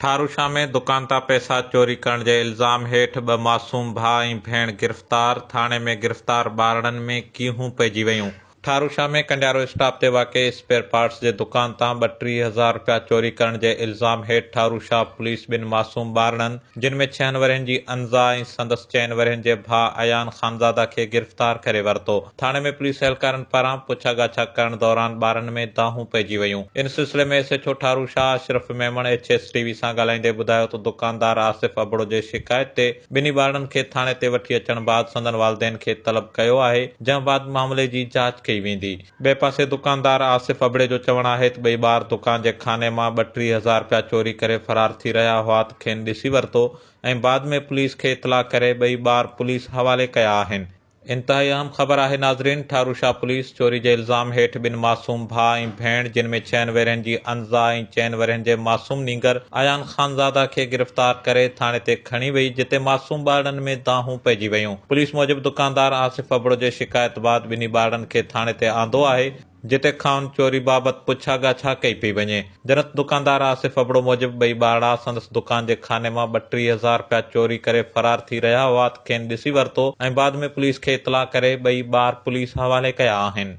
ٺاروشاه ۾ دڪان تان پئسا چوري ڪرڻ جي الزام هيٺ ٻه معصوم ڀاء ۽ ڀيڻ گرفتار، ٿاڻي ۾ گرفتار ٻارڙن ۾ ڪيهون پئجي ويون. ٺاروشاه ۾ ڪنڊيارو اسٽاپ تي واقع اسپيئر پارٽس جي دڪان تان ٻٽيهه هزار رپيا چوري ڪرڻ جي الزام هيٺ ٺاروشاه پوليس ٻن معصوم ٻارڙن جن ۾ ڇهن ورهين جي انزا ۽ سندس چئن ورهين جي ڀاء ايان خانزاده کي گرفتار ڪري ورتو. ٿاڻي ۾ پوليس اهلڪارن پاران پڇا ڳاڇا ڪرڻ دوران ٻارن ۾ دانهون پئجي ويون، ان سلسلي ۾ S H O Tharu Shah Ashraf Memon H S T V سان ڳالهائيندي ٻڌايو ته دڪاندار آصف ابڙو جي شڪايت تي ٻنهي ٻارڙن کي ٿاڻي تي وٺي اچڻ بعد سندن والدين کي طلب ڪيو آهي جنهن بعد معاملي جي جاچ ڪئي ويندي. ٻئي پاسي دڪاندار آصف ابڙي جو چوڻ آهي ته ٻئي ٻار دڪان جي خاني مان ٻه ٽي هزار رپيا چوري ڪري فرار ٿي رهيا هئا ته کين ڏسي ورتو ۽ بعد ۾ پوليس کي اطلاع ڪري ٻئي ٻار پوليس حوالي ڪيا آهن انتهائي اهم خبر آهي ناظرين ٺارو شاهه پوليس چوري جي الزام هيٺ ٻن معصوم ڀاء ۽ ڀيڻ جن ۾ ڇهن ورهين جي انزا ۽ چئن ورهين جي معصوم نينگر ايان خانزاده کي گرفتار ڪري ٿاڻي تي کڻي وئي جتي معصوم ٻارڙن ۾ دانهون پئجي ويون پوليس موجب دڪاندار آصف ابڙو جي شڪايت بعد ٻنهي ٻارڙن کي ٿاڻي تي آندو آهي جتي کانئن چوري بابت پڇا ڳاڇا ڪئي پئي وڃي. جنت دڪاندار آصف ابڙو موجب ٻئي ٻارڙا سندس دڪان جي خاني مان ٻه ٽي هزار رپيا چوري ڪري فرار ٿي رهيا هئا ته کين ڏسي ورتو ۽ بعد ۾ پوليس کي اطلاع ڪري ٻئي ٻار پوليس حوالي ڪيا آهن.